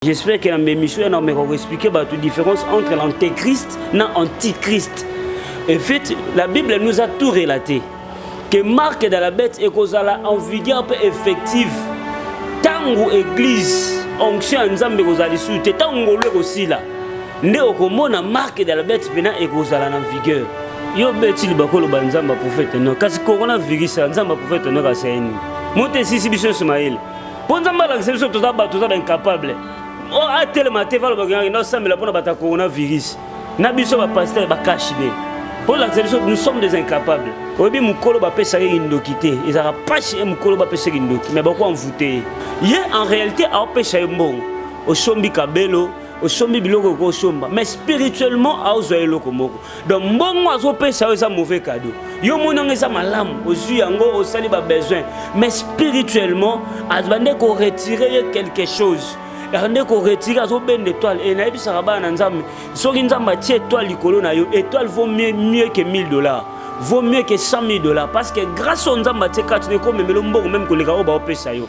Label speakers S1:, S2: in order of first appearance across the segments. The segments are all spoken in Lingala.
S1: J'espère que na émission na meko ko expliquer ba différence entre l'antéchrist na antichrist. En fait, la Bible nous a tout relaté que marque de la bête ekozala en vigueur mpe effective ntango église onction ya nzambe ekozala lisusu te ntango ngolu ekosila nde okomona marque de la bête mpena ekozala na vigueur yo beti libakoloba nzambe aprofete no kasi coronavirus ya nzambe aprofete no kasi aini moto esisi biso nyonso mayele mpo nzambe alakisa biso toza bato toza baincapable oh, atelema te valobakendaki nasambela mpona bato ya coronavirus na biso bapastere bakashi be mpo olakisa biso nous sommes des incapables oyebi mokolo bapesaki kindoki te ezalaka mpasi ye mokolo bapesaki kindoki mai bako envoute ye ye en réalité aopesa ye mbongo osombi kabelo osombi biloko eko osomba mais spirituellement aozwa eloko moko donc mbongo azopesa yo eza mauvais cadeau yo omoni yango eza malamu ozwi yango osali babesoin mais spirituellement azobande koretire ye quelque chose ande koretire azobenda étoile e nayebisaka bana na nzambe soki nzambe atie étoile likolo na yo étoile vaut mieux, mieux que 1000 dollars vaut mieux que 100 000 dollars parce que grâce oyo nzambe atie kati na ekomemelo mbongo meme koleka oyo baopesa yo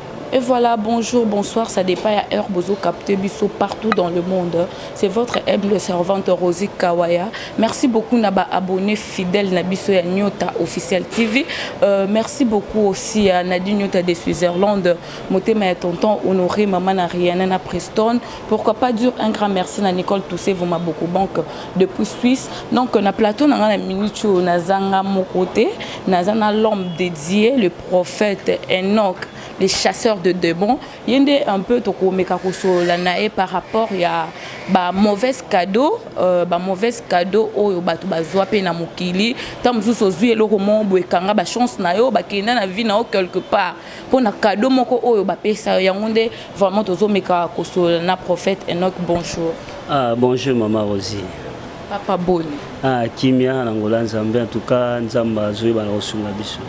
S2: Et voilà, bonjour, bonsoir, ça dépend à heure bozo capté biso partout dans le monde. C'est votre humble servante Rosie Kawaya. Merci beaucoup naba abonné fidèle na biso ya Nyota officiel TV. Euh, merci beaucoup aussi à Nadine Nyota de Switzerland, motema ya tonton honoré maman na Rihanna na Preston. Pourquoi pas dire un grand merci na Nicole Toussé vous m'a beaucoup banque depuis Suisse. Donc na plateau na na minute na zanga mon côté, na zana l'homme dédié le prophète Enoch le chasseur de démons ye nde un peu tokomeka kosolola na ye par rapport ya ba mauvaise cadeau euh, ba mauvaise cadeau oyo bato bazwa mpe na mokili ntango mosusu ozwi eloko moko boye kanga bachance na yo bakenda na vie na yo quelque part mpo na cadeau moko oyo bapesa yo yango nde vraiment tozomeka kosolola na prophète enoch bonjour ah, bonjour
S1: mama rosie Papa
S2: Boni. Ah, kimia
S1: na ngola Nzambe en tout cas Nzambe azoyeba na kosunga biso.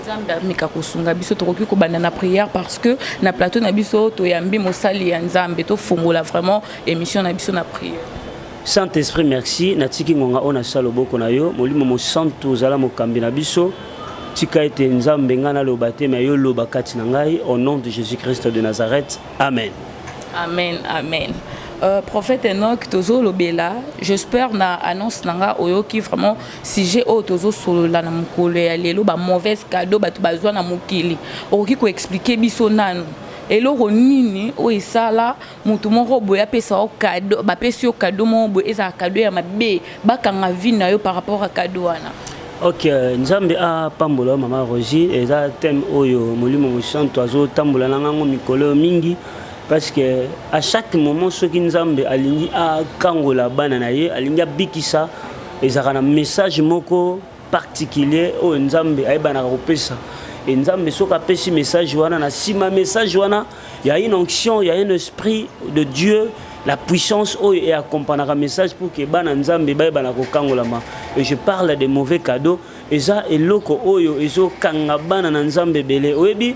S1: Nzambe ameka
S2: kosunga biso tokoki kobanda na prière parce que na plateau na biso toyambi mosali ya Nzambe tofungola vraiment émission na biso na prière. Saint Esprit
S1: merci natiki ngonga oyo nasala loboko na yo molimo mosantu ozala mokambi na biso tika ete Nzambe ngai naloba te me yo loba kati na ngai au nom de Jésus-Christ de Nazareth amen amen
S2: amen Euh, prophète Enoch tozolobela j'espère na annonce na nga oyoki vraiment sujet oyo tozosolola na mokolo ya lelo ba mauvaise cadeau bato bazwa na mokili okoki koexplike biso nanu eloko nini oyo esala moto moko boye apesa yo kado bapesi yo kado moko boye ezala kado ya mabe bakanga vie na yo par rapport ya kado wana ok
S1: nzambe apambola yo mama rosi eza thème oyo molimo mosantu azotambola na ngango mikolo oyo mingi parce que à chaque moment soki nzambe alingi akangola bana na ye alingi abikisa ezalaka na message moko particulier oyo nzambe ayebanaka kopesa e nzambe soki apesi message wana na nsima message wana Il y a une onction, il y a un esprit de Dieu, la puissance oyo et accompagnera message pour que bana nzambe baye bana kokangolama. Et je parle des mauvais cadeaux. Eza eloko oyo ezo kanga bana na nzambe belé. Oyebi,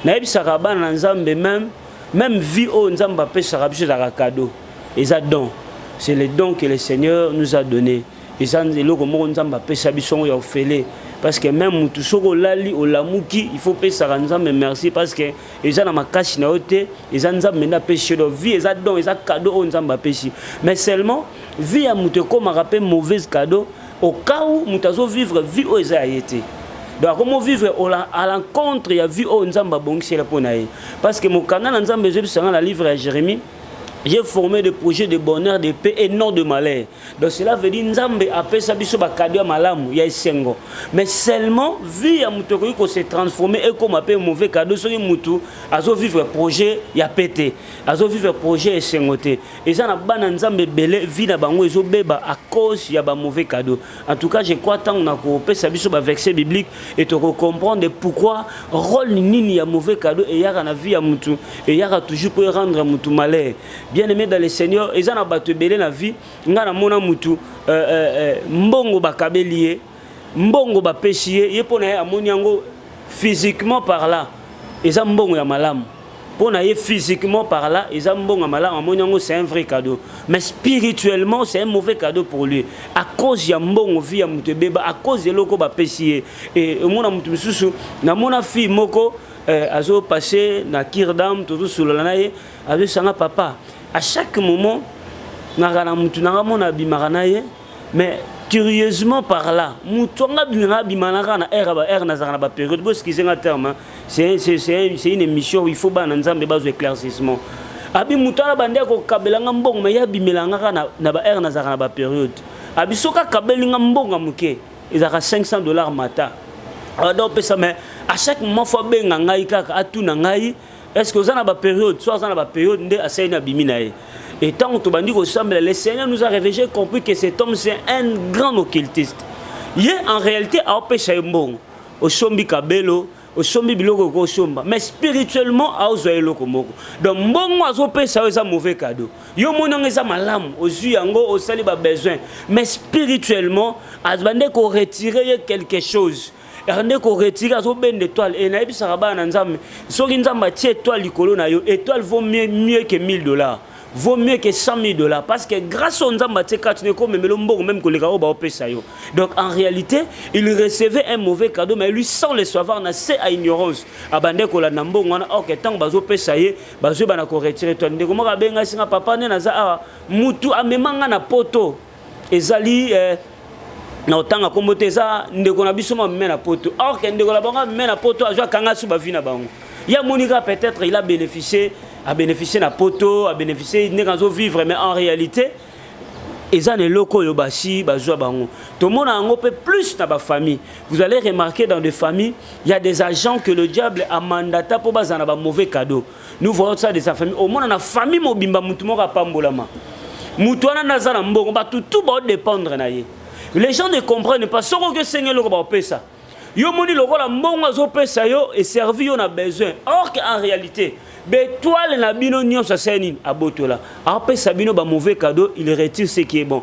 S1: nayebisaka bana na nzambe même même vie oyo nzambe apesaka biso ezaka cadeau. Eza don. C'est le don que le Seigneur nous a donné. eza eloko moko nzambe apesa biso yango ya ofele parce que meme mutu soki olali olamuki il faut opesaka nzambe merci parce que eza na makasi na yo te eza nzambe nde apesi yo vie eza don eza cadeau oyo nzambe apesi mais seulement vie ya moto ekomaka mpe mauvaise cadeau au cas où moto azovivre vie oyo eza ya ye te donc akomi ovivre à l'encontre ya vie oyo nzambe abongisela mpo na ye parce que mokanda na nzambe ezobisanga na livre ya jérémie J'ai formé des projets de bonheur, de paix et non de malheur. Donc cela veut dire Nzambe apesa biso ba cadeau ya malamu ya esengo. Mais seulement vie ya mutu ekoki ko se transformer et comme pe mauvais cadeau soki mutu azo vivre projet ya pete, azo vivre projet esengo te. Eza na bana Nzambe belé vie na bango ezo beba à cause ya ba mauvais cadeau. En tout cas, je crois tant na ko pesa biso ba verset biblique et to ko comprendre pourquoi rôle nini ya mauvais cadeau et yaka na vie ya mutu et yaka toujours pour rendre mutu malheur. bien aimé dans le seigneur eza na bato ebele na vie ngai namona mutu euh, euh, euh, mbongo bakabeli ye mbongo bapesi ye ye mpo na ye amoni yango physiquement par là eza mbongo ya malamu mpo na ye physiquement par là eza mbongo ya malamu amoni yango c'est un vrai cadeau mais spirituellement c'est un mauvais cadeau pour lui à cause ya mbongo vie ya moto ebeba à cause eloko bapesi ye e omona moto mosusu namona fille moko eh, azopasse na kirdam tozosolola na ye azosanga papa à chaque moment naka na mutu nanga mona abimaka na ye mais curieusement par là mutu anga abimaka abima naka na heure ba heure nazaka na ba période bo excuse nga terme c'est c'est c'est une émission il faut bana nzambe bazo éclaircissement abi mutu ala bande ko kabela nga mbongo mais ya bimela nga na na ba heure nazaka na ba période abi soka kabeli nga mbongo muke ezaka 500 dollars mata alors donc pesa mais à chaque moment faut benga ngai kaka atuna ngai est ce que oza na ba période soit aza na ba période nde asali na bimi na ye et ntango tobandi kosambela le seigneur nous a réveillé j'ai compris que cet homme c'est un grand occultiste ye en réalité aopesa ye mbongo osombi kabelo osombi biloko oko osomba mais spirituellement aozwa eloko moko donc mbongo azopesa yo eza mauvais cadeau yo omoni yango eza malamu ozwi yango osali babesoin mais spirituellement azwa nde koretire ye quelque chose Ernde ko retirer azo bende étoile et nayebisaka bana na Nzambe soki Nzambe atie étoile likolo na yo étoile vaut mieux, mieux que 1000 dollars vaut mieux que 100 000 dollars parce que grâce au Nzambe atie kati neko memelo mbongo même koleka oyo baopesa yo donc en réalité il recevait un mauvais cadeau mais lui sans le savoir na se à ignorance abandaki kolanda mbongo wana or que ntango bazopesa ye bazoyeba na ko retirer étoile ndeko moko abengaki nga papa nde naza awa mutu amema nga na poto ezali eh, na otanga kombo te eza ndeko na biso mame na poto or ke ndeko na bango mame na poto azwa kanga su bavi na bango ye amonika peut-être il a bénéficié abénéficie na poto abénéficie ndenge azovivre mais en réalité eza na eloko oyo basi bazwa bango tomona yango mpe plus na bafamille vous allez remarquer dans des familles il y a des agents que le diable amandata mpo bazala na bamauvais cadeau nous voyons ça de sa famille omona na famille mobimba mutu moko apambolama mutu wana naza na mbongo bato tout baodépendre na ye les gens ne comprennent pas soko oki osengi eloko baopesa yo moni lokola mbongo azopesa yo eservi yo na besoin or que en réalité betoile na bino nyonso asali nini abotola apesa bino ba mauvais cadeau il retire ce qui est bon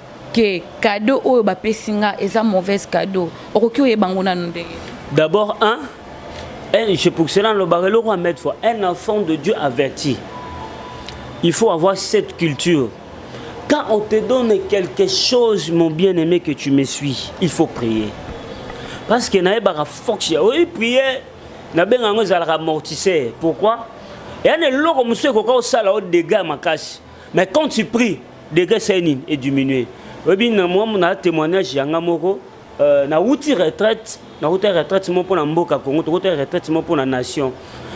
S2: que cadeau oyo ba pesi nga eza mauvaise cadeau okoki oyeba ngo nanu ndenge d'abord
S1: un un je pour cela le barre le mettre fois un enfant de Dieu averti il faut avoir cette culture quand on te donne quelque chose mon bien-aimé que tu me suis il faut prier parce que naye baka fox ya oui prier na benga yango ezalaka amortisseur pourquoi eyana eloko mosusu ekoka osala o dégât makasi mais quand tu pries degre sai nini ediminue oyebi na mwa na témoignage ya nga moko euh, nawuti retraite nawuta retraite moko mpo na mboka congo tokota retraite moko mpo na nation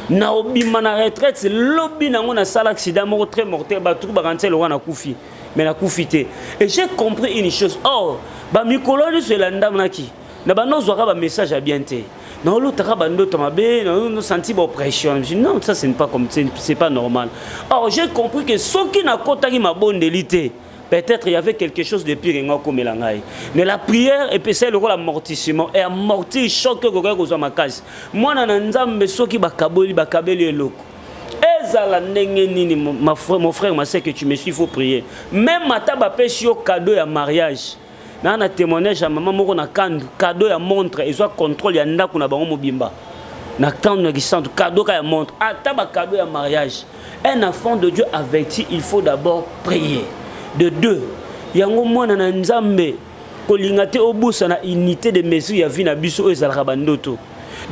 S1: na obima na retraite lobi nango nasala accident moko très mortel bato bakanga nse lokola nakufi mais nakufi te et j'ai compris une chose or bamikolo nyonso elandamanaki na banda ozwaka bamessage ya bien te na olotaka bandoto mabe nasanti baoppression non ça ce n'est pas comme c'est pas normal or j'ai compris que soki nakotaki mabondeli te peut-être il y avait quelque chose de pire enga okomela ngai mais la prière epesai lokola amortissement e amortir choc okokaki kozwa makasi mwana na nzambe soki bakaboli bakabeli eloko ezala ndenge nini mon frère ma sœur que tu me suis faut prier même ata bapesi yo cadeau ya mariage na na témoignage ya mama moko na kandu cadeau ya montre ezwa contrôle ya ndako na bango mobimba na kandu na kisantu cadeau ka ya montre ata ba cadeau ya mariage un enfant de Dieu averti il faut d'abord prier de deux yango mwana na nzambe kolinga te obusa na unité de mesure ya vie na biso oyo ezalaka bandoto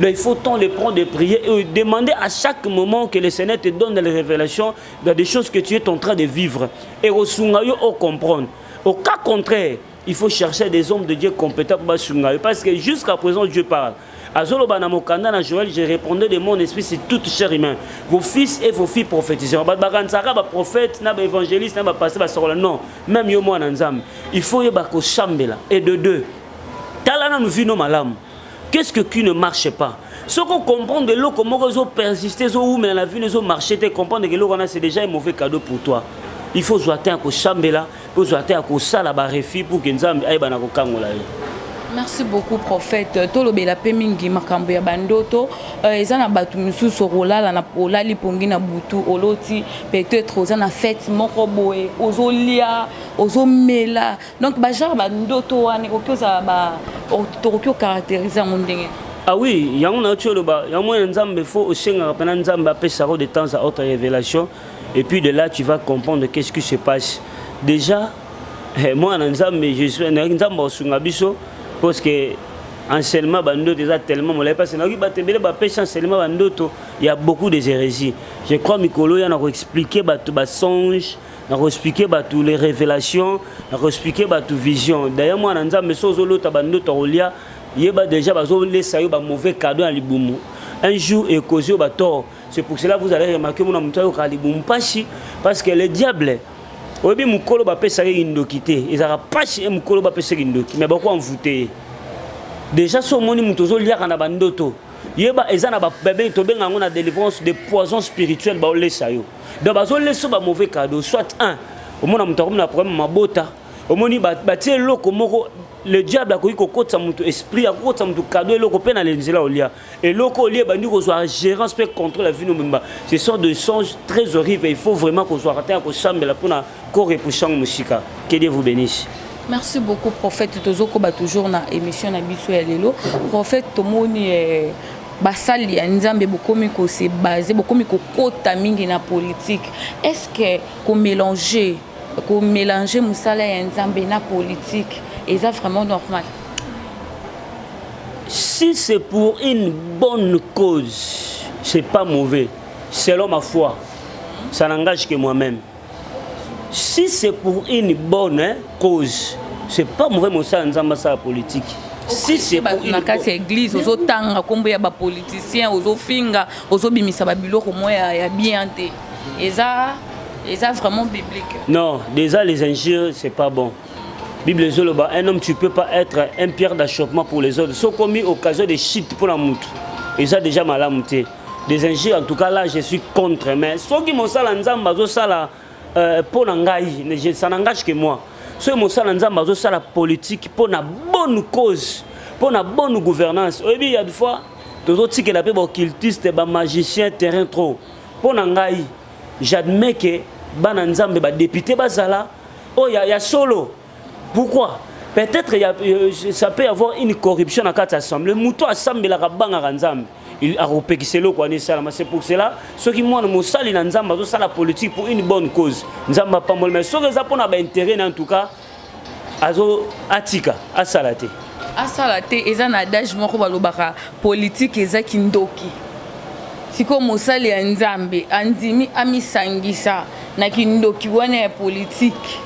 S1: Donc il faut tant le prendre de prier et demander à chaque moment que le Seigneur te donne les révélations dans des choses que tu es en train de vivre. Et au au comprendre. Au cas contraire, il faut chercher des hommes de Dieu compétents pour basunga parce que jusqu'à présent Dieu parle. Azoloba na mokanda na Joël, je répondais de mon esprit sur toute chair humaine. Vos fils et vos filles prophétisent. Ba bakansaka ba prophètes, na ba évangélistes, na ba pasteurs ba sokola non. Même yo mwana Nzambe, il faut yeba ko chambela et de deux. Tala na vino malamu. qu'est ce que qui ne marche pas soki ocomprendre eloko moko ezo persiste ezowumela na vino ezo marche te comprendre eloko wana c'est déjà un mauvais cadeau pour toi il faut ozwa temps ya kosambela mpe ozwa temps ya kosala barefi pour ke nzambe ayeba na kokangola yo merci
S2: beaucoup prophète euh, tolobela mpe mingi makambo ya bandoto euh, eza na bato mosusu okolala na olali pongi na butu oloti peut-être oza na fete moko boye ozolia ozomela donc ba genre ba ndoto wana ekoki ozala ba tokoki ocaractérise yango ndenge Ah oui, yango
S1: na tsholo ba yango na Nzambe faut osengaka pena Nzambe apesa ko de temps à autre révélation et puis de là tu vas comprendre qu'est-ce qui se passe. Déjà eh, moi na Nzambe je suis na Nzambe osunga biso parce que enseignement ba ndoto eza tellement molai parce que nayoki bato ebele bapesa enseignement ba ndoto ya beaucoup des hérésies je crois mikolo ya na koexplike bato basonge na koexplike bato les révélations na koexplike bato vision daye mwana nzambe so ozolota bandoto ya kolia yeba déjà bazolesa yo bamauvais cadeau ya libumu un jour ekozi yo batort c'est pour cela vous allez remarquer mona moto ayokaka libumu mpasi parce que le diable oyebi mokolo bapesaka ye kindoki te ezalaka mpasi ye mokolo bapesa kindoki mais bako envoute ye déjà so omoni moto ozoliaka na bandoto yeba eza na babe tobenga yango na délivrance de poison spirituel baolesa yo donc bazolesa ba mauvais cadeau soit un omona moto akomi na problème mabota omoni batie eloko moko le diable akoki kokotisa moto esprit akokotisa moto kado eloko mpe na nzela olia eloko olie ebandi kozwa gérance mpe contrôle ya vino mobimba ce sont de songe très horrible il faut vraiment kozwaka ntango ya kosambela mpo na korepouse yango mosika que dieu vous bénisse merci beaucoup
S2: prophète tozokoba toujours na émission na biso ya lelo prophète tomoni eh, basali ya nzambe bokomi kose base bokomi kokota mingi na politike est ce que komélange komélange mosala ya nzambe na politike eza vraiment normal
S1: si c'est pour une bonne cause c'est pas mauvais selon ma foi ça n'engage que moi-même si c'est pour une bonne hein, cause c'est pas mauvais mosala nzambe asala politique si c'est bato na kati ya église ozotanga
S2: nkombo ya bapoliticien ozofinga ozobimisa babiloko mwa ya bien te eza eza vraiment biblique non déjà les
S1: injures c'est pas bon bible ezoloba un homme tu peux pas être un pierre d'achoppement pour les autres sokomi occasion de chute mpona motu eza déjà malamu te des injures en tout cas là je suis contre mais soki mosala nzambe azosala euh, mpo na ngai je ça n'engage que moi soki mosala nzambe azosala politique mpo na bonne cause mpo na bonne gouvernance oyebi ya fois tozotikela mpe baoccultiste bamagicien terrain trop mpo na ngai j'admets que bana nzambe badepute bazala oyo oh, ya, ya solo pourquoi peut-être euh, ça peut avoir une corruption na kati assemblée moto asambelaka bangaka nzambe akopekisa eloko wana esalama c'est pour cela soki mwana mosali na nzambe azosala politique pour une bonne cause nzambe apamboli mais soki eza mpona baintérêt na en tout cas azo atika asala te asala te
S2: eza na adage moko balobaka politike eza kindoki sikoyo mosali ya nzambe andimi amisangisa na kindoki wana ya politike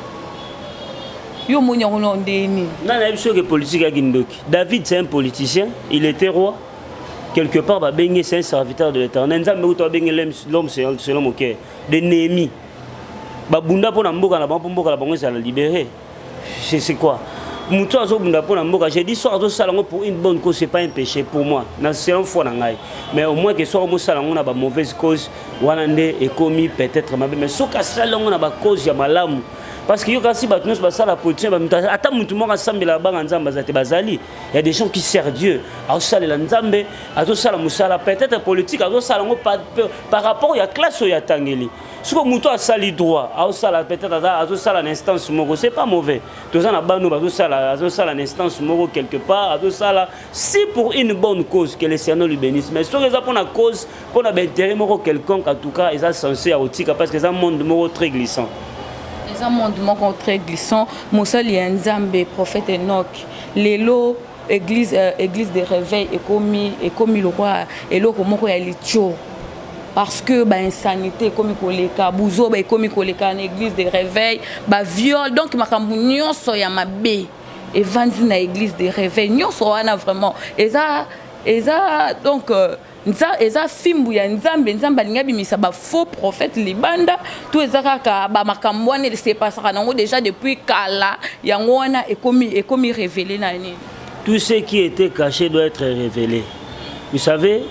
S2: yo omoni yango nao ndenge nini nga nayebi soki
S1: politique ya kindoki david c'est un politicien il était roi quelque part babenge c'est un serviteur de l'éternel nzambe kutu abenge l'homme selon mon cœur de némi babunda mpo na mboka na bango mpo mboka na bango ezala libéré c'est quoi moto oyo azobunda mpo na mboka je dis soki azosala yango pour une bonne cause c'est pas un péché pour moi na selon foi na ngai mais au moins ke soki omosala yango na bamauvaise cause wana nde ekomi peut-être mabe mais soki asala yango na bacause ya malamu parce que yokasi bato nyonso basala position ya bamutu ata motu moko asambela banga nzambe aza te bazali ya des gens qui sert dieu azosalela nzambe azosala mosala peut-être politique azosala yango par rapport ya classe oyo atangeli soki motu asali droit azosala peut-être azosala na instance moko c'est pas mauvais toza na bano bazosala azosala na instance moko quelque part azosala si pour une bonne cause que le cerno lui bénisse mais soki eza mpona cause mpo na baintérêt moko quelconque en tout cas eza sense ya kotika parce que eza monde moko très glissant eza
S2: monde moko très glissant mosali ya nzambe prophète enok lelo église, euh, église de réveil ekomi, ekomi lokola eloko moko ya litio parce que bainsanité ekomi koleka buzoba ekomi koleka na église de réveil baviole donc makambo nyonso ya mabe evandi na église de réveil nyonso wana vraiment eza eza donc euh, nza eza fimbu ya nzambe nzambe alingi abimisa ba faux prophète libanda to eza kaka ba makambo wana esepasaka nango déjà depuis kala yango wana ekomi ekomi révélé na nini tout ce qui était
S1: caché doit être révélé vous savez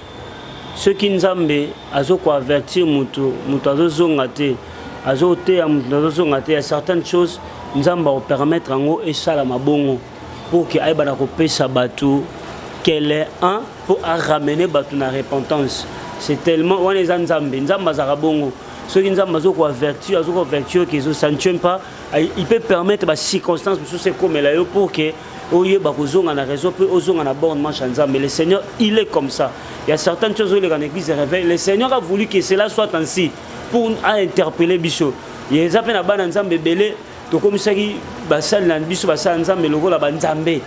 S1: soki nzambe azokoavertir moto moto azozonga te azoteya moto azozonga te ya certaines choses nzambe akopermettre yango esalama bongo pour que ayeba na kopesa bato qu'elle est un pour a ramener bato na repentance c'est tellement wana eza nzambe nzambe azalaka bongo soki nzambe azo koavertir azo koavertir que ça ne tient pas il peut permettre bacirconstance mosusu ekomela yo pour que oyeba kozonga na réseau mpe ozonga na borne manche ya nzambe le seigneur il est comme ça il y a certaines choses ozoleka na église de réveil le seigneur a voulu que cela soit ainsi pour a interpeller biso eza mpe na bana nzambe ebele tokomisaki basali na biso basala nzambe lokola banzambe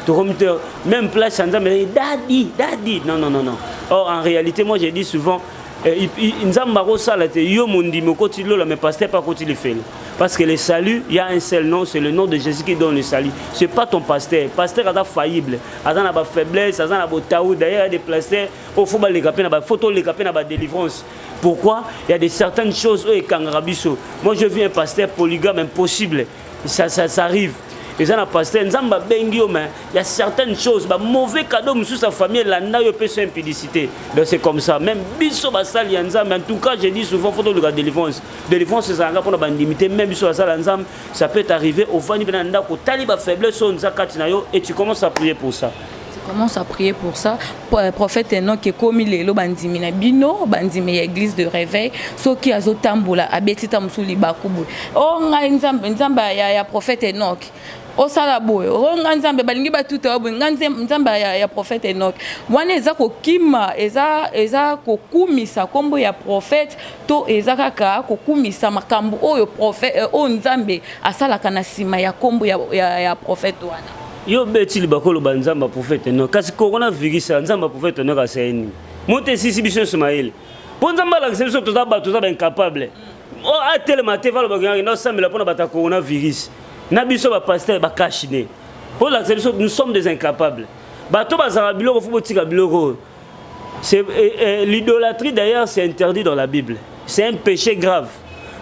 S1: tokomi te même place ya nzambe ezali dadi dadi non non non non or en réalité moi j'ai dit souvent eh, nzambe akosala te yo mondimi okoti lola mais pasteur pa akoti lifelo parce que le salut il y a un seul nom c'est le nom de jésus qui donne le salut c'est pas ton pasteur pasteur aza faillible aza na bafaiblesse aza na botau d'ailleurs ya des pasteurs oyo fo baleka mpe na bafoto oleka mpe na badelivrance Pourquoi il y a des certaines choses oyo ekangaka biso. Moi je vis un pasteur polygame impossible. Ça, ça, ça arrive. eza na pasteur nzambe abengi yo mais ya certaines choses ba mauvais cadeau mosusu ya famille elanda yo epesa impudicité donc c'est comme ça même biso basali ya nzambe en tout cas je dis souvent fo toluka délivrance délivrance ezalaka mpona bandimi te même biso basala ya nzambe ça peut arriver ovandi mpena na ndako otali bafaiblesse oyo nza kati na yo et tu commence à prier pour ça commence à prier
S2: pour ça euh, prophète Enoch ekomi lelo bandimi na bino bandimi ya église de réveil soki azotambola abeti ta mosusu libaku boye o oh, ngai nzambe nzambe ya, ya prophète Enoch osala boye o oh, ngai nzambe balingi batuta yo boye ngai nzambe ya, ya prophète Enoch wana eza kokima eza, eza kokumisa nkombo ya prophète to eza kaka kokumisa makambo oyo prophète euh, oyo nzambe asalaka na nsima ya nkombo ya, ya, ya prophète wana yo beti
S1: libakolo ba nzambe ya prophète no kasi coronavirus ya nzambe ya prophète no kasai nini moto esisi biso nyonso mayele mpo nzambe alakisa biso toza bato toza baincapable mm. oh, atelema te valobaki yange naosambela mpo na bato ya coronavirus na biso bapasteur bakashine mpo olakisa biso nous sommes des incapables bato bazalaka biloko fo botika biloko oyo L'idolâtrie d'ailleurs c'est interdit dans la Bible. C'est un péché grave.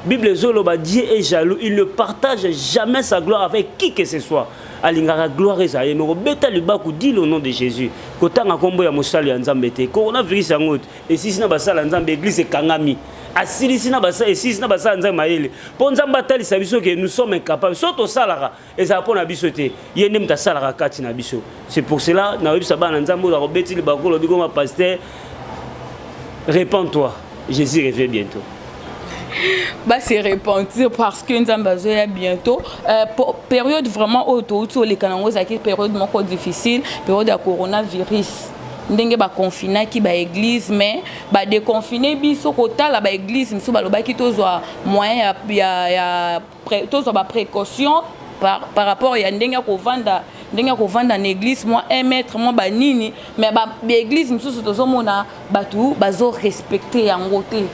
S1: Bible ezoloba Dieu est jaloux, il ne partage jamais sa gloire avec qui que ce soit. alingaka gloire eza ye moko beta libaku di le nom de jésus kotanga nkombo ya mosali ya nzambe te coronavirus yango esisi na basala nzambe eglise ekangami asilisi na basala esilisi na basala nzambe mayele mpo nzambe atalisa biso ke nous sommes incapables so tosalaka ezala mpo na biso te ye nde moto asalaka kati na biso c'est pour cela nakoyebisa bana nzambe oyo akobeti libako olobi koma pasteur repend toi jésus revient bientôt
S2: base repentir parce que nzambe azoya bientôt euh, période vraiment oyo touti oleka nango ezalaki période moko difficile période ya coronavirus ndenge baconfinaki baeglise mais badeconfine biso kotala baeglise mosusu balobaki tozwa moyen ya, ya, ya tozwa ba précaution par, par rapport ya ndenge ya kovanda ndenge ya kovanda na église mwa 1 mètre mwa banini mais baéglise mosusu tozomona bato bazorespecte yango te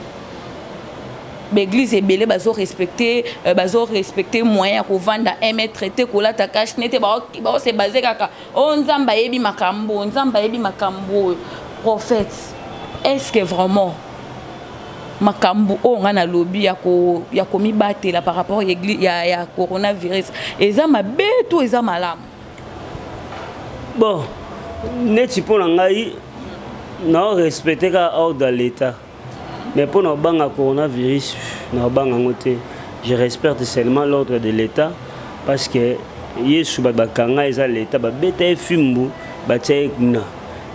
S2: baeglise ebele bazorespecte euh, bazorespecte moyen ya kovanda 1 mètre te kolata cache ne te baose base kaka Oh Nzambe ayebi makambo, Nzambe ayebi makambo. Prophète, est-ce que vraiment makambo oyo ngai nalobi ya komibatela par rapport ya, ya coronavirus eza mabe to eza malamu bon
S1: neti mpo na ngai naorespecte kaka ordre ya l'état Mais mpo na kobanga coronavirus, na kobanga yango te. Je respecte seulement l'ordre de l'État parce que Yesu bato bakanga eza l'État babeta ye fimbu batia ye kuna.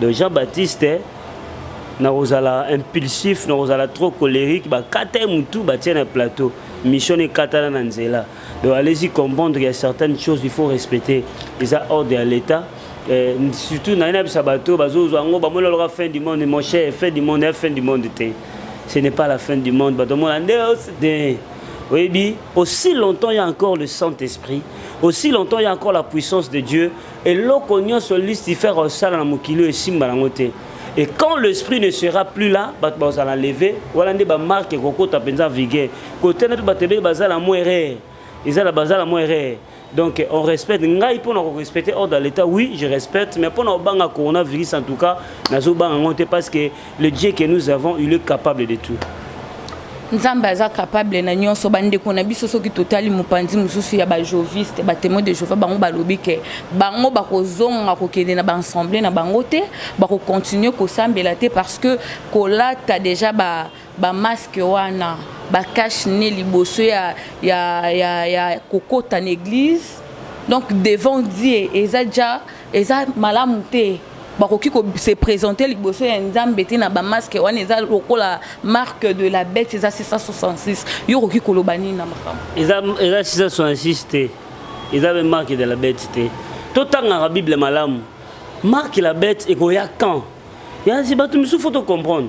S1: Donc Jean-Baptiste nakozala impulsif nakozala trop colérique bakata ye motu batia na plateau mission ekatana na nzela donc allez-y comprendre ya certaines choses il faut respecter eza ordre ya l'État Eh, surtout na yena bisa bato bazozwa yango bamoni oloka fin du monde mon cher fin du monde ya fin du monde te ce n'est pas la fin du monde bato omona nde te oyebi aussi longtemps il y a encore le Saint-Esprit aussi longtemps il y a encore la puissance de Dieu eloko nyonso lucifer osala na mokili oyo esimba yango te et quand l'esprit ne sera plus là bato bazala leve wana nde bamarke ekokota mpenza vigueur kote na mpe bato ebele bazala mo erreur ezala bazala mo erreur Donc on respecte ngai mpo na ko respecter ordre de l'État oui je respecte mais mpo na obanga coronavirus en tout cas nazo banga ngo te parce que le Dieu que nous avons il est capable de tout nzambe
S2: aza capable na nyonso bandeko na biso soki totali mopanzi mosusu ya bajoviste batemoin de jehova bango balobi ke bango bakozonga kokende na baassemble na bango te bakokontinue kosambela te parce que kolata déjà ba Ba masque wana ba cache ne liboso ya ya ya, ya kokota na église. Donc devant Dieu eza ja eza malamu te. bakoki ko se présenter liboso ya nzambe te na bamaske wana eza lokola marque de la bête eza 666 yo okoki koloba nini na makambo eza 666
S1: te eza mpe marque de la bête te totangaka bible malamu marque la bête ekoya quand yansi bato misusu fo tocomprendre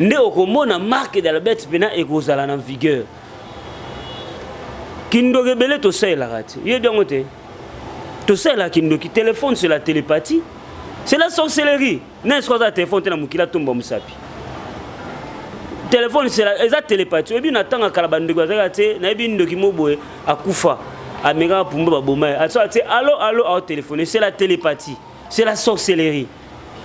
S1: nde okomona marque d'albert mpena ekozala na vigueur kindoki ebele tosalelaka te yebi yango te tosalelaka kindoki telefone c'est la télépathie c'est la sorcellerie nani soki aza na telefone te na mokili atomba mosapi telefone eza télépathie oyebi na ntango akala bandeko azalaka te nayebi ndoki mo boye akufa amekaka pumba baboma ye asoki ate alo alo aotelefone c'est la télépathie c'est la sorcellerie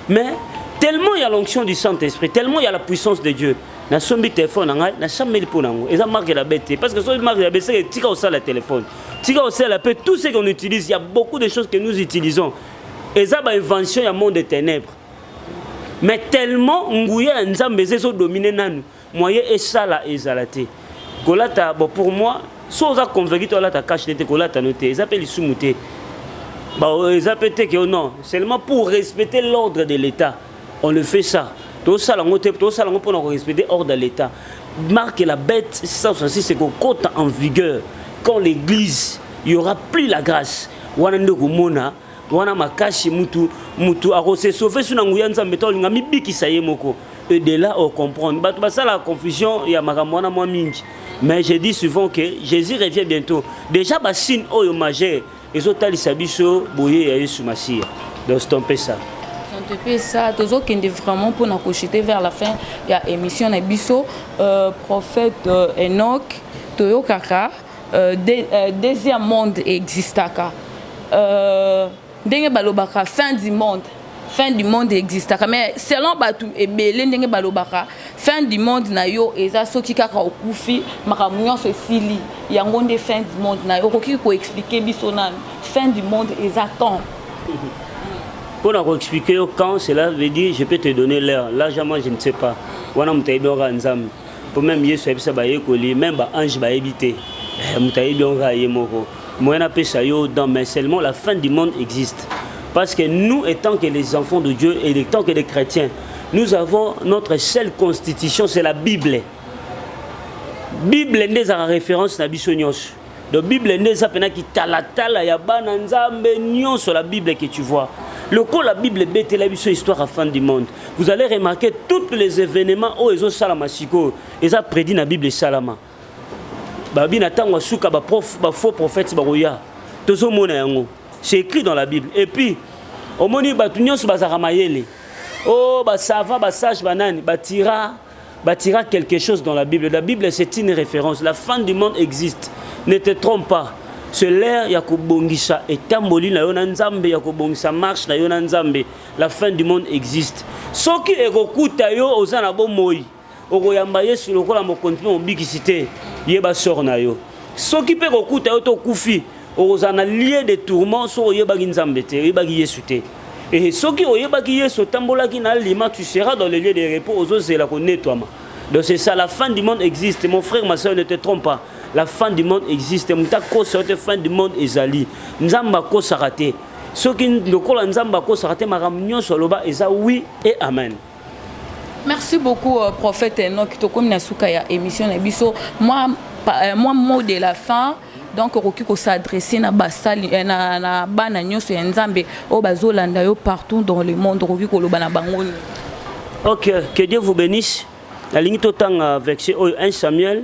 S1: mais tellement ya l'onction du saint esprit tellement ya la puissance de dieu nasombi telefone na ngai nasambeli mpo na yango eza marke ya labe te parce que soki marke ya labe seke tika osala telefone tika osala mpe tout ce qu'on utilise ya beaucoup de choses que nous utilisons eza bainvention ya monde de ténèbres mais tellement nguya ya nzambe eza ezodomine nanu moyen esala ezala te kolata bon pour moi so oza convaincu to alata cash te te kolata no te eza mpe lisumu te eza mpe te ke oh non seulement pour respecter l'ordre de l'état on le fait ça tosala yango te tosala yango mpona korespecte ordre ya l'état marque la bête 666 ekokota en vigueur quand l'église y aura plus la grâce wana nde okomona wana makasi mutu mutu akose sauver sous na nguya nzambe to linga mibikisa ye moko et de là au comprendre bato basala confusion ya makambo wana mwa mingi mais je dis souvent que jésus revient bientôt déjà basine oyo majeur ezotalisa biso boye ya yesu masiya donc c'est un peu ça topesa
S2: tozokende vraiment mpona kochute vers la fin ya émission na biso euh, prophète euh, enoch toyokaka euh, de, euh, deuxième monde existaka euh, ndenge balobaka fin du monde fin du monde existaka mais selon bato ebele ndenge balobaka fin du monde na yo eza soki kaka okufi makambo nyonso esili yango nde fin du monde na yo okoki koexplike biso nanu fin du monde eza quand
S1: mpo na koexplike yo quand cela veut dire je peux te donner l'heure largement je ne sais pas wana moto ayebi oka nzambe po meme yesu ayebisa bayekoli meme baange bayebi te eh, moto ayebi yango kaka ye moko moyen apesa yo dans mais seulement la fin du monde existe parce que nous étant que les enfants de dieu et étant que les chrétiens nous avons notre seule constitution c'est la bible bible nde ezalaka référence na biso nyonso Donc Bible nde eza pena kitalatala ya bana Nzambe nyonso la Bible que tu vois. Le coup la Bible betela biso histoire à fin du monde. Vous allez remarquer tous les événements où ils ont salama siko, ils ont prédit la Bible salama. Babi na tango suka ba prof ba faux prophètes ba roya. Tozo mona yango. C'est écrit dans la Bible. Et puis omoni batu nyonso bazaka mayele. Oh ba savants ba sages banani ba tira Bâtira quelque chose dans la Bible. La Bible, c'est une référence. La fin du monde existe. Ne te trompe pas. C'est l'ère ya kobongisa etamboli na yo na Nzambe ya kobongisa marche na yo na Nzambe. La fin du monde existe. Soki ekokuta yo oza na bomoi, okoyamba Yesu lokola mokonzi mpe mobikisi te, yeba sort na yo. Soki mpe ekokuta yo to kufi, okozala na lieu de tourment soki oyebaki nzambe te oyebaki yesu te ehe soki oyebaki yesu otambolaki na alima tu seras dans le lieu de repos ozozela konetwama donc c'est ça la fin du monde existe mon frère ma soeur ne te trompe pas la fin du monde existe moto akosa yo te fin du monde ezali nzambe akosaka te soki lokola nzambe akosaka te makambo nyonso aloba eza wi e amen Merci
S2: beaucoup euh, prophète Enoch tokomi na suka ya émission na biso moi euh, moi mot de la fin donc okoki kosadresse na basali eh, na, na bana nyonso ya nzambe oyo bazolanda yo partout dans le monde okoki koloba na bango nini ok
S1: que dieu vous bénisse nalingi totanga verset oyo 1 samuel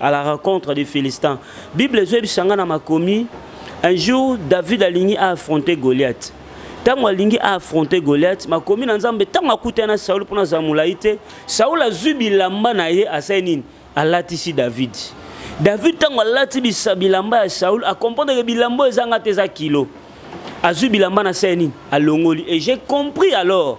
S1: à la rencontre des Philistins. Bible ezoyebisa nga na makomi un jour David alingi a affronter Goliath. Tango alingi a affronter Goliath, makomi na Nzambe tango akutana na Saul pona za molayi te, Saul azui bilamba na ye asali nini? Alatisi David. David tango alati bilamba ya Saul, a comprendre que bilamba ezanga te eza kilo. Azui bilamba na sali nini? Alongoli. Et j'ai compris alors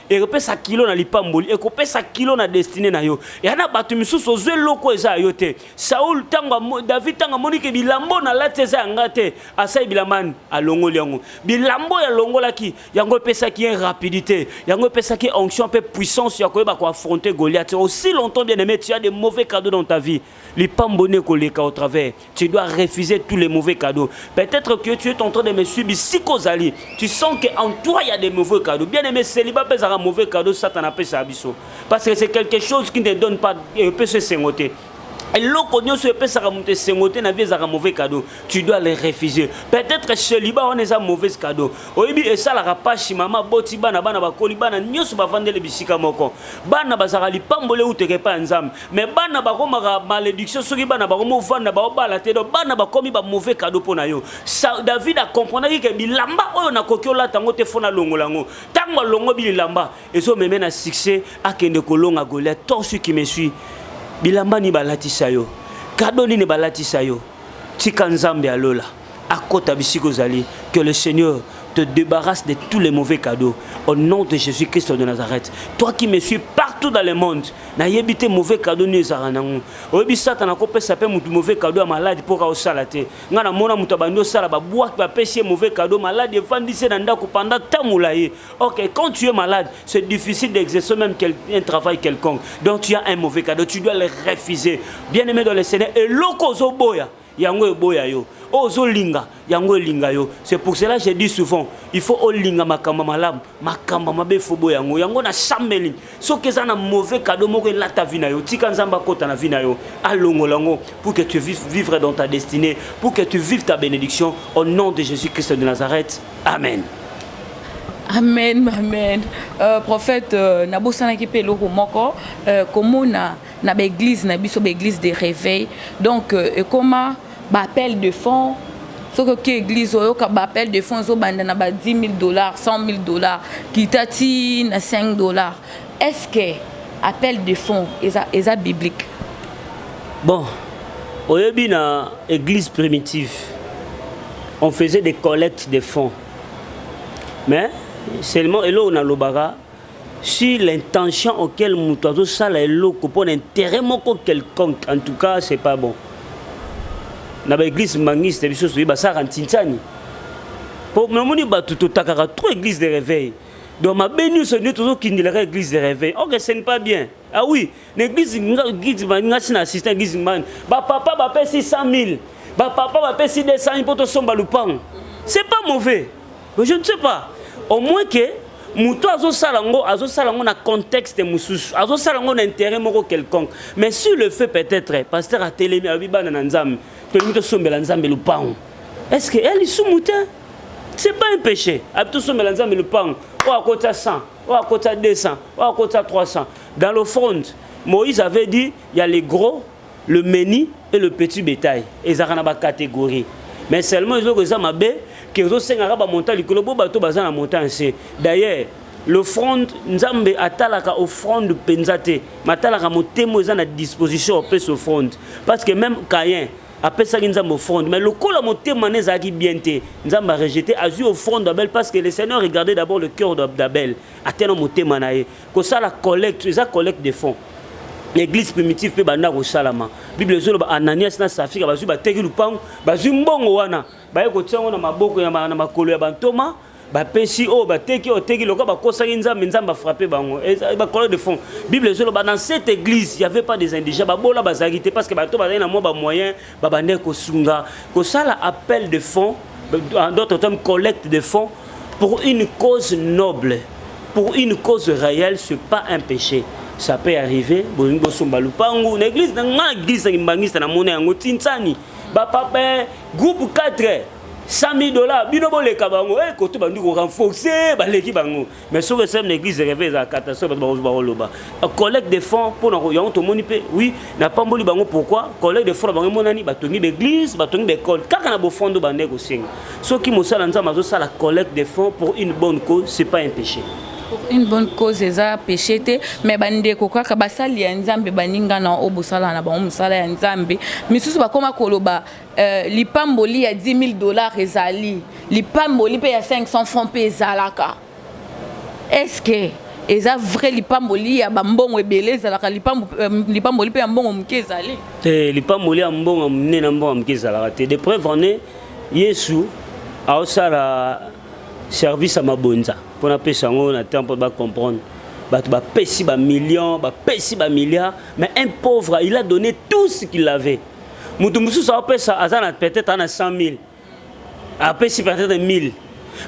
S1: ekopesa kilo na lipamboli ekopesa kilo na destine na yo ya na bato misusu ozwi eloko eza ya yo te saul ntango david ntango amoni ke bilambo nalati eza ya nga te asali bilamba ani alongoli yango bilambo oyo alongolaki yango epesaki ye rapidité yango epesaki onction mpe puissance ya koyeba koaffronte goliath aussi longtemps bien aimé tu as de mauvais cadeau dans ta vie Lipambone koleka au travers. Tu dois refuser tous les mauvais cadeaux. Peut-être que tu es en train de me suivre ici kozali. Tu sens que en toi il y a des mauvais cadeaux. Bien aimé, célibat pèse un mauvais cadeau, Satan a pèse abisso. Parce que c'est quelque chose qui ne donne pas, euh, peut se sengoter. eloko nyonso epesaka moto esengo te na vie ezalaka mauvais cadeau tu dois le refuser peut-être celiba wana eza mauvaise cadeau oyebi esalaka pashi mama boti bana bana bakoli bana nyonso bavandeli bisika moko bana bazalaka lipamboli euteka epai ya nzambe mais bana bakomaka malédiction soki bana bakomi ovanda baobala te donc bana bakomi ba mauvais cadeau mpo na yo david acomprendaki ke bilamba oyo nakoki olata yango te fo nalongola yango ntango alongo bilamba ezomeme na succès akende kolonga goliath to soki qui me suis bilamba nini balatisa yo kado nini balatisa yo tika nzambe ya lola akota bisika ozali que le seigneur te débarrasse de tous les mauvais cadeaux au nom de jésus christ de nazareth toi qui me suis partout dans le monde nayebi te mauvais cadeau nini ezalaka nango oyebi satana akopesa mpe motu mauvais cadeau ya maladi mpo kaosala te ngai namona moto abandi osala babwaki bapesi ye mauvais cadeau maladi efandisi ye na ndako pendant temps molai ok quand tu es malade c'est difficile d'exercer même quel, un travail quelconque donc tu as un mauvais cadeau tu dois le refuser bien aimé dans le seigneur eloko ozoboya yango eboya yo oyo ozolinga yango elinga yo c'est pour cela je dis souvent il faut olinga makambo malamu makambo mabe efobo yango yango na sambeli soki eza na mauvais cadeau moko elata vi na yo tika nzambe akota na vi na yo alongola yango pour que tu vives vivre dans ta destinée pour que tu vives ta bénédiction au nom de jésus christ de nazareth amen
S2: amen amen euh, prophète euh, nabosanaki mpe eloko moko euh, komona na ba église na biso ba église de réveil donc euh, ekoma ba appel de fonds soki oki église oyoka ba appel de fonds ezobanda na ba 10 000 dollars 100 000 dollars kita ti na 5 dollars est ce que appel de fonds eza, eza biblique
S1: bon oyebi na église primitive on faisait des collectes de fonds mais seulement eloko nalobaka sur l'intention auquel moto azosala eloko mpo na intérêt moko quelconque en tout cas c'est pas bon na baeglise mbangiste biso soki basalaka ntintiani mpo namoni bato totakaka trop église de réveil donc mabe nyonso nde tozokindelaka église de réveil ok ce n'est pas bien Ah oui, l'église guide ngasi na assistant guide man. Ba papa ba pesi 100000. Ba papa ba pesi 200000 poto somba lupango. C'est pas mauvais. Mais je ne sais pas. Au moins que moto azosala yango azosala yango na contexte mosusu azosala yango na intérêt moko quelconque mais sur le fait peut-être pasteur atelemi alobi bana na nzambe tolingi tosombela nzambe lupango est ce que ya lisumu te c'est pas un péché abi tosombela nzambe lupango oyo akotya 100 oyo akotisa 200 oyo akotisa 300 dans le front moïse avait dit il y a les gros le meni et le petit bétail ezalaka na bacatégorie mais seulement ezoko eza mabe ke ezosengaka bamonta likolo bo bato baza na monta nse d'ailleurs l'offrande nzambe atalaka offrande mpenza te matalaka motema eza na disposition opesa offrande parce que même cayen apesaki nzambe offrande mais lokola motema ne ezalaki bien te nzambe arejete azwi offrande d'abel parce que le seigneur regardait d'abord le cœur d'abel ata na motema na ye kosala collecte eza collecte de fonds l'église primitive mpe banda kosalama bible ezoloba ananias na safira bazwi bateki lupango bazwi mbongo wana baye kotia yango na maboko na makolo ya bantoma bapesi oyo oh, bateki oyo oh, teki lokola bakosaki nzambe nzambe afrappe bango bakolo de fond bible ezoloba dans cette église y avait pas des indigents babola bazalaki te parce que bato bazalaki na mwa bamoyen babandaki kosunga kosala appel de fond en d'autres termes collecte de fond pour une cause noble pour une cause réelle c'est pas un péché ça peut arriver bolingi bosomba lupangu na église na ngai na église na kimbangista na mona yango tinsani bapapa eh, groupe 4 100000 dollars bino boleka bango eh koto bandi ko renforcer baleki bango mais soki esem na église reve eza catastrophe bato bakozuba koloba collecte de fonds mpo na yango tomoni mpe oui napamboli bango pourquoi collecte de fonds na bango emonani batongi baeglise batongi baekole kaka na bofondo bande kosenga soki mosala nzambe azosala collecte de fonds pour une bonne cause c'est pas un péché une bonne
S2: cause eza péché te mais bandeko kaka basali ya nzambe baninga na oyo bosala na bango mosala ya nzambe misusu bakoma koloba Euh, lipamboli ya 10 000 dollars ezali lipamboli mpe ya 500 francs mpe ezalaka eske eza vrai lipamboli ya bambongo ebele ezalaka euh, lipamboli mpe ya mbongo moke ezali te lipamboli ya
S1: mbongo ya monene na mbongo ya moke ezalaka te de preuve en est yesu aosala service ya mabonza mpo napesa yango na temps mpo bacomprendre bato bapesi bamillion bapesi bamilliard mais un pauvre il a donné tout ce qu'il avait moto mosusu aopesa aza na peut-être ana 100 000 apesi peut-être 1000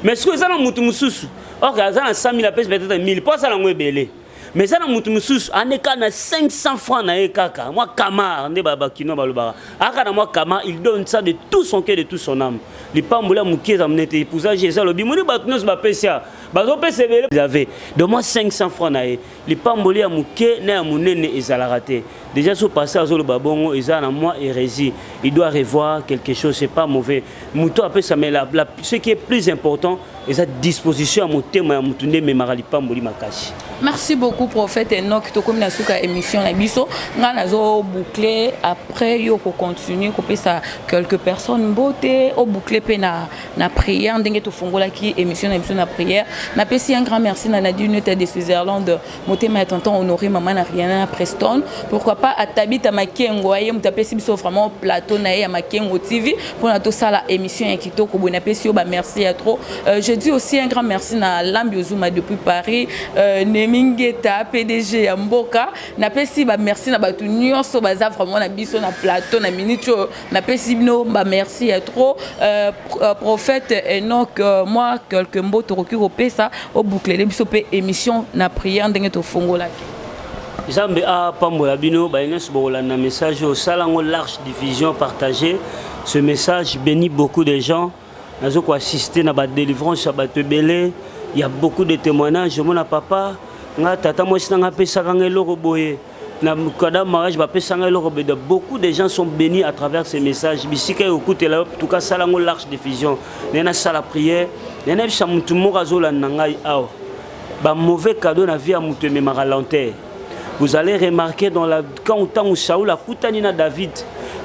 S1: mais soki eza na moto mosusu ok aza na 100 000 apesi peut-être 1000 mpo asala yango ebele mais eza na moto mosusu aneka na 500 francs na ye kaka mwa kamar nde bakino balobaka aka na mwa kamar il donne ça de tout son cœur de tout son âme lipamboli ya moke eza monete epousage eza lobi moni bato nyonso bapesi ya bazopesa ebele ave de mwa 500 francs na ye lipamboli ya moke na ya monene ezalaka te déjà so pasteur azoloba bongo eza na mwa hérésie il doit revoir quelque chose c'est pas mauvais moto apesa mais la, la, ce qui est plus important eza disposition ya motema ya moto nde ememaka lipamboli makasi merci beaucoup
S2: prophète enok tokomi na suka ya émission na biso ngai nazoboucle après yo kocontinue kopesa quelques personnes mbote oboucle mpe na na prière ndenge tofungolaki émission na biso na prière napesi un grand merci na nadine neta de switzerland motema ya tonton honore mama na riana na preston pourquoi pas atabita makengo aye moto apesi biso vraiment plateau na ye ya makengo tv mpona tosala émission ya kitoko boye napesi yo bamerci ya trop euh, je dis aussi un grand merci na lambi ozuma depuis paris euh, nemingeta pdg ya mboka napesi bamerci na bato nyonso baza vraiment na biso na plateau na minute oyo napesi bino ba merci ya trop euh, euh, prophète enoc euh, mwa quelque mbo tokoki kopesa obouklele biso mpe émission na prière ndenge tofungolaki nzambe
S1: apambola bino baye nyonso bokolanda message oyo sala yango large diffusion partage ce message béni beaucoup de gens nazo koassiste na badelivrance ya bato ebele ya beaucoup de témoignage omona papa nga tata mwasi nanga apesaka nga eloko boye na kada mariage bapesanga eloko beda beaucoup de gens sont bénis à travers ces messages bisika yo okutela yo tout cas sala ngo large diffusion naye nasala prière naye nayebisa motu moko azolanda ngai awa ba mauvais cadeau na vie ya motu ememaka lenteur vous allez remarquer dans la quand ntango saul akutani na david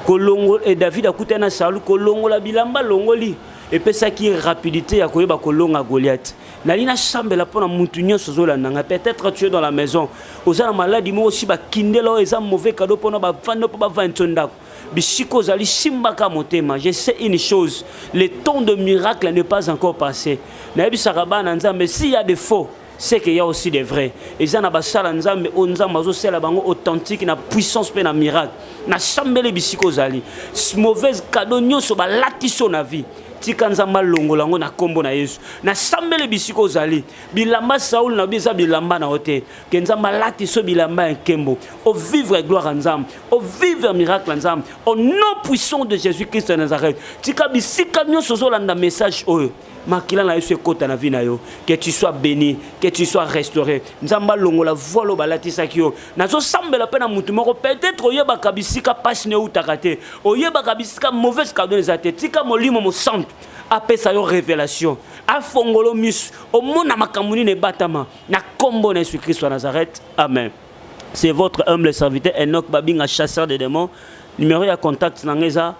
S1: kolongo e david akutani na saul kolongola bilamba alongoli epesaki rapidité ya koyeba kolonga goliath nali nasambela mpo na mutu nyonso ozolanda ngai peut-être tu es dans la maison oza na maladi moko osi bakindela oyo eza mauvais cadeau mpona bafandi mpo bavandisa ndako bisika ozali simbaka motema je sais une chose le temps de miracle n'est pas encore passé nayebisaka bana nzambe s'il y a de faux c'est qu'il y a aussi des vrais eza na basala nzambe oyo nzambe azosala bango authentique na puissance mpe na miracle nasambeli bisika ozali mauvaise cadeau nyonso balati so na vie tika nzambe alongola yango na nkombo na yesu nasambeli bisika ozali bilamba saul na yo eza bilamba na yo te ke nzambe alati so bilamba ya nkembo ovivre gloire ya nzambe ovivre miracle ya nzambe au nom puissant de jésus christ ya nazareth tika bisika nyonso ozolanda message oyo makila na yesu ekota na vie na yo que tu sois béni que tu sois restauré nzambe alongola volo balatisaki yo nazosambela mpe na motu moko peut-être oyebaka bisika mpasi na eutaka te oyebaka bisika mauvaise cardone eza te tika molimo mosantu apesa yo révélation afongolo misu omona makambo nini ebatama na nkombo na yesu kristo ya nazareth amen c'est votre humble serviteur enoch babinga chasseur de démons numéro ya contact na ngai eza 09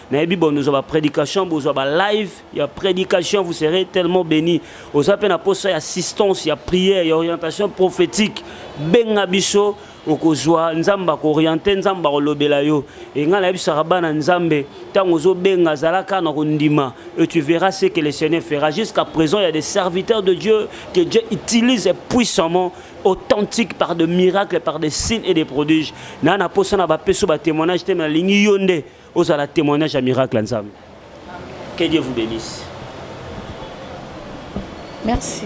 S1: nayebi bon ozwa ba prédication bozwa ba live ya prédication vous serez tellement béni oza mpe na posa ya assistance ya prière ya orientation prophétique benga biso okozwa nzambe akoriente nzambe akolobela yo e ngai nayebisaka bana nzambe ntango ozobenga azalaka na kondima et tu verras ce que le seigneur fera jusqu'à présent il y a des serviteurs de dieu que dieu utilise puissamment authentique par de miracles par des signes et des prodiges naa na mposa na bapeso batémoignage te me nalingi yo nde ozala témoignage ya miracle ya nzambe que dieu vous bénisse merci